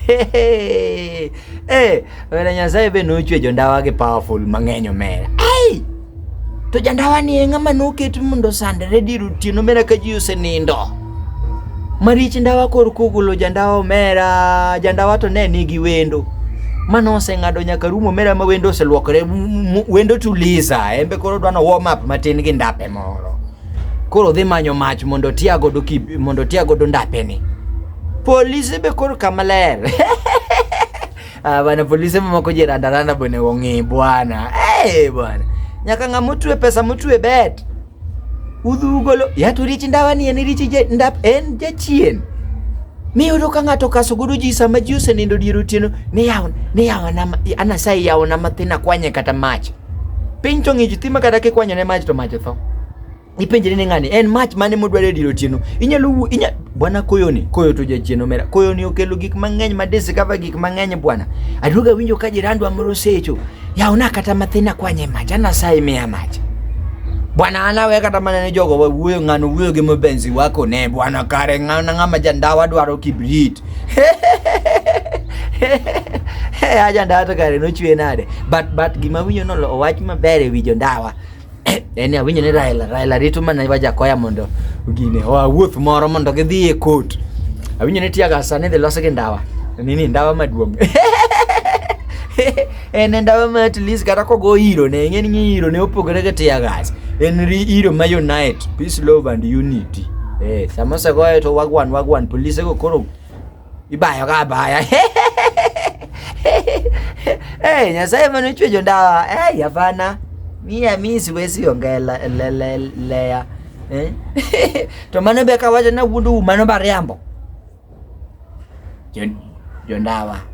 Hey, hey, wena Nyasaye be nochwejo ndawa gi powerful mang'eny omera. Hey! To jandawa ni e ng'ama noket mondo sandre dir otieno omera ka ji osenindo. Marich ndawa kor kogolo jandawa omera, jandawa to ne nigi wendo. Mano oseng'ado nyaka rumo omera ma wendo oselwokre, wendo tuliza, embe koro dwano warm up matin gi ndape moro. koro dhi manyo mach mondo otia godo mondo otia godo ndapeni polise be koro kama ler ah, bana polise mamako ji randaranda bone ong'i bwana hey, eh, bwana nyaka ng'a motwe pesa motwe bet udhugolo yaturichi ndawa ni en richi ndap en jachien Miyudo ka ng'ato kaso godo ji sama ji osenindo dier otieno ni yawo ni yawo na anasaye yawo na mathin akwanye kata mach. Piny to ng'ich thima kata kikwanyo ne mach to mach otho. Ipenjre ni ng'ani en mach mane modwaro e dier otieno. Inyalo inya bwana koyoni koyo to jachien omera koyoni okelo gik mang'eny ma discover gik mang'eny bwana. Aduoga winjo ka jirandwa moro secho yaona kata mathina kwanye maja na sai mea maja bwana anawe kata mana ne jogo wuyo ngano wuyo gi mabenzi wako ne bwana kare ngana ngama jandawa dwaro kibrit aja ndawa to kare nochwe nade but but gima winyo no owach maber e wi jondawa en awinjo ni Raila Raila rito mana iwa jakoya mondo gine oa wuoth moro mondo gidhi e court awinjo ni tiaga sani dhi losi gi ndawa nini ndawa maduong' en ndawa ma at least kata kogo iro ne ng'eni ni iro ne opogore gi tiagas en iro ma unite peace love and unity eh sama osegoye to wagwan wagwan polise go koro ibayo ka abaya hey, nyasaye mane ochwejo ndawa hey, hapana mia mi siwezi ongea lea eh? to mano be kawacho na wuondu mano bariambo jondawa jo